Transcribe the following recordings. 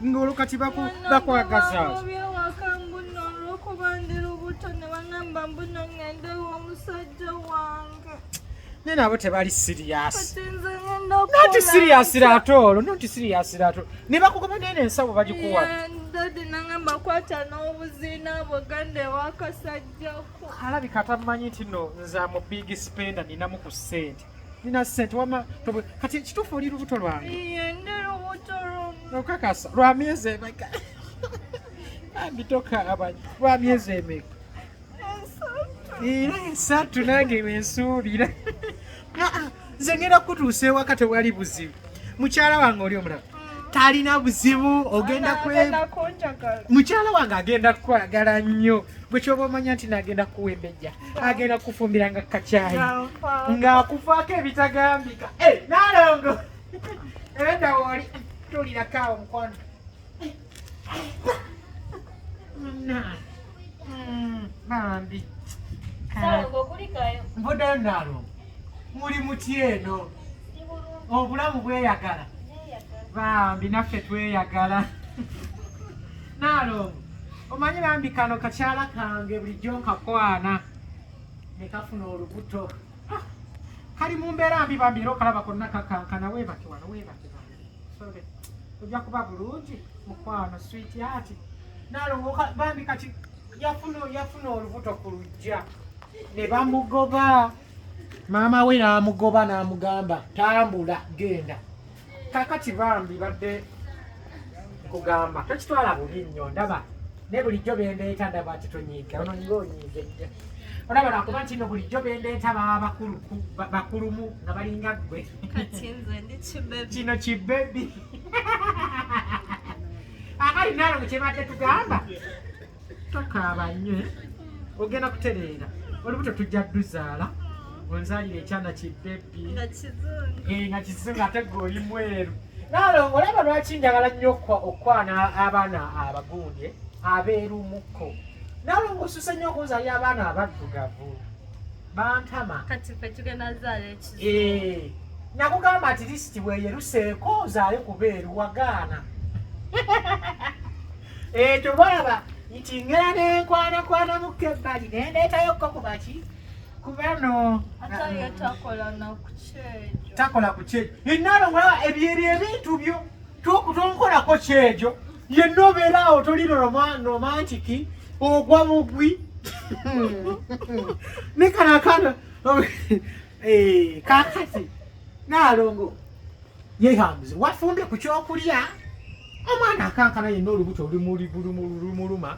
ngolo kati baku bakwagaza nene abo tebali siriyasi noti siriyasi latoolo noti siriyasi latoolo ne bakugoba nene ensawo bagikuwa dadi nangamba kwata n'obuzina buganda ewakasajjako alabika tamanyi nti no nze amu big spender ninamu ku sente nina sente wama kati ekituufu oli lubuto lwange okakasa lwa myezi emeka ambitoka abanyi lwa myezi emeka era esatu nange wensuubira nze ngenda kutuusa ewaka tewali buzibu mukyala wange oli omulaba talina buzibu ogenda mukyala wange agenda kukwagala nnyo bwekyoba omanya nti nagenda kuwembejja agenda kufumbira nga kakyayi ng'akufaako ebitagambika eh, nalongo enda woli tulirakawo mukwano hmm, bambi mbudayo nalongo muli muti eno obulamu bweyagala bambi naffe tweyagala Naalongo omanyi bambi kano kakyala kange bulijjo nkakwana ne kafuna olubuto ah, kali mu mbeera mbi bambi era okalaba konna kakankana weebake wano weebake sore ojja kuba bulungi mukwano switi ati naalongo bambi kati yafuna olubuto ku lujja ne bamugoba maama we n'amugoba n'amugamba tambula genda kakati bambi badde kugamba tokitwala bubi nnyo ndaba naye bulijjo bendeeta ndaba nti tonyiiga ono nga onyiize nnyo olaba nakuba nti no bulijjo bendeeta baba bakulumu nga balinga ggwe kino kibebi akali nalo kyebadde tugamba tokaaba nnyo eh? ogenda kutereera olubuto tujja duzaala onzalira ekyana kibbebi nga kizungu eh, ate gwe oli mweru nalongo olaba lwaki njagala nnyo okukwana abaana abagundye abeerumukko nalongo osuse nnyo okunzalira abaana abaddugavu bantama kati fe tugenda zaala ekizo eh, nakugamba ati lisiti weyeruseeko ozaale kubeeru wagaana ekyo eh, baaba nti ngera nenkwanakwana mukka ebbali nendeetayo kko kubaki kubano takola ku kyejo enalo ebyo ebyo ebintu byo tonkolako kyejo yenna obeera awo toli romantiki ogwa mugwi ne kana kana eh, kakati naalongo yehambuze wafumbye ku kyokulya omwana akankana yenna olubuto lumuluma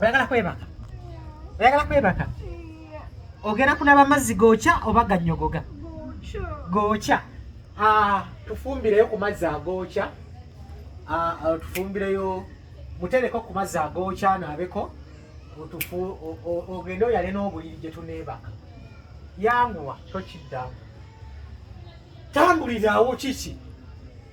oyagala kwebaka oyagala kwebaka ogenda kunaba mazzi gookya oba gannyogoga gookya ah, tufumbireyo ku mazzi agookya ah, ah, tufumbireyo mutereko ku mazzi agookya anaabeko ogende oyale n'obuliri gye tuneebaka yanguwa tokiddamu tambuliraawo kiki